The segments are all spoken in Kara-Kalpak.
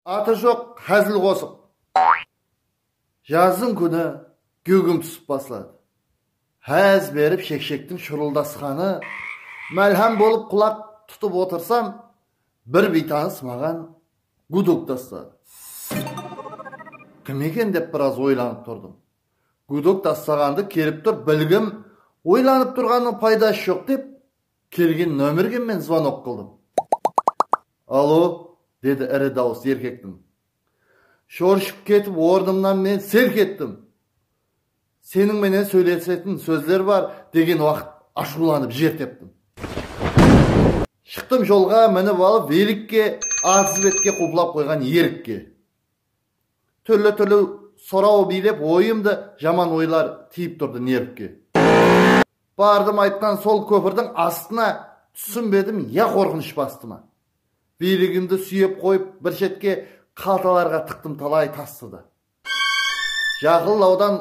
Atı joq házil qosıq. Jazdıń kúni gúgim túsip basladı. Ház berip shekshektiń shurıldasqanı málhám bolıp qulaq tutıp otırsam, bir biytanıs maǵan gudok tasladı. Kim eken dep biraz oylanıp turdım. Gudok taslaǵandı kelip tur bilgim, oylanıp turǵannıń paydası joq dep Kelgen nomerge men zvonok qıldım. Alo, dedi iri dawıs erkektiń. Shorshıp ketip ornımnan men selk ettim. Seniń menen sóylesetin sózler bar, degen waqıt ashıwlanıp jer teptim. Shıqtım jolǵa minip alıp velikke atız betke quplap qoyǵan erikke. Túrli-túrli soraw biylep oyımdı jaman oylar tiyip turdı nervke. Bardım aytqan sol kópirdiń astına túsinbedim ya qorqınısh bastı ma. Biyligimdi súyep qoyıp bir shetke qaltalarǵa tıqtım talay tastı da. Jaqınlawdan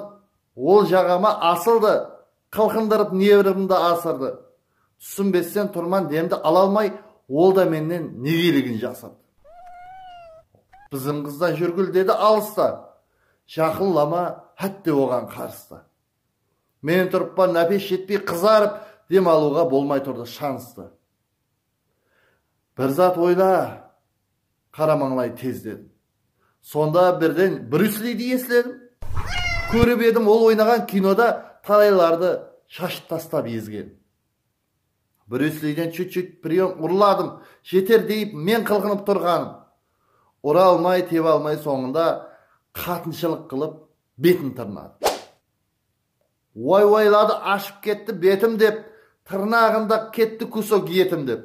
ol jaǵama asıldı Qılqındırıp nevrımdı asırdı. Túsinbesten turman demdi ala almay ol da mennen negeligin jasırdı. Bızım qızdan júrgil dedi alısta. Jaqınlama hátte oǵan qarısta. Men turıppan nápes jetpey qızarıp dem alıuǵa bolmay turdı shanıstı. Bir zat oyla Qara mańlay tezden. Sonda birden Bryus Lidi esledim. Kórip edim ol oynaǵan kinoda talaylardı shashıp tastap ezgen. Bryus Liden chut chut priyom urladım, jeter deyip men qılqınıp turǵanım. Ura almay tebe almay sońında qatınshılıq qılıp betin tırnadı. Uay uayladı ashıp ketti betim dep tırnaǵında ketti kusok etim dep.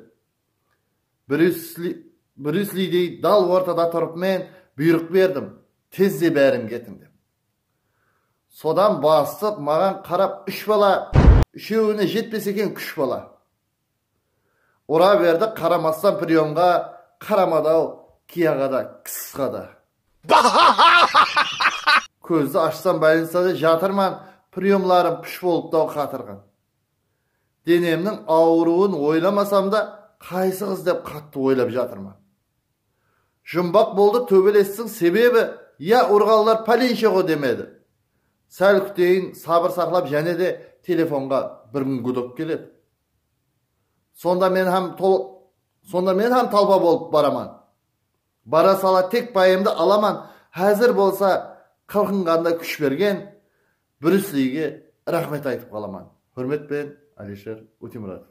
Bryus Lidey dal ortada turıp men buyrıq berdim, Tezde báriń ketiń dep. Sodan bastıp maǵan qarap úsh bala, úshewine jetpes eken kúsh bala. Ura berdi qaramastan priyomǵa qaramadaw kiyaǵada kssqada. Kózdi ashsam bolnicada jatırman, priyomlarım púsh bolıptaw qatırǵan. Denemniń awırıwın oylamasam da, qaysı qız dep qattı oylap jatırman. Jumbaq boldı tóbelestiń sebebi ya urǵanlar pálinshe-ǵo demedi. Sál kúteyin, sabır saqlap jáne de telefonǵa bir kún gudok keledi. Sonda men hám Sonda men hám talpa bolıp baraman. Bara sala tek payımdı alaman, házir bolsa qılqınǵanda kúsh bergen, Bryusliyge raxmet aytıp qalaman. Húrmet penen, Alisher Utimuratov.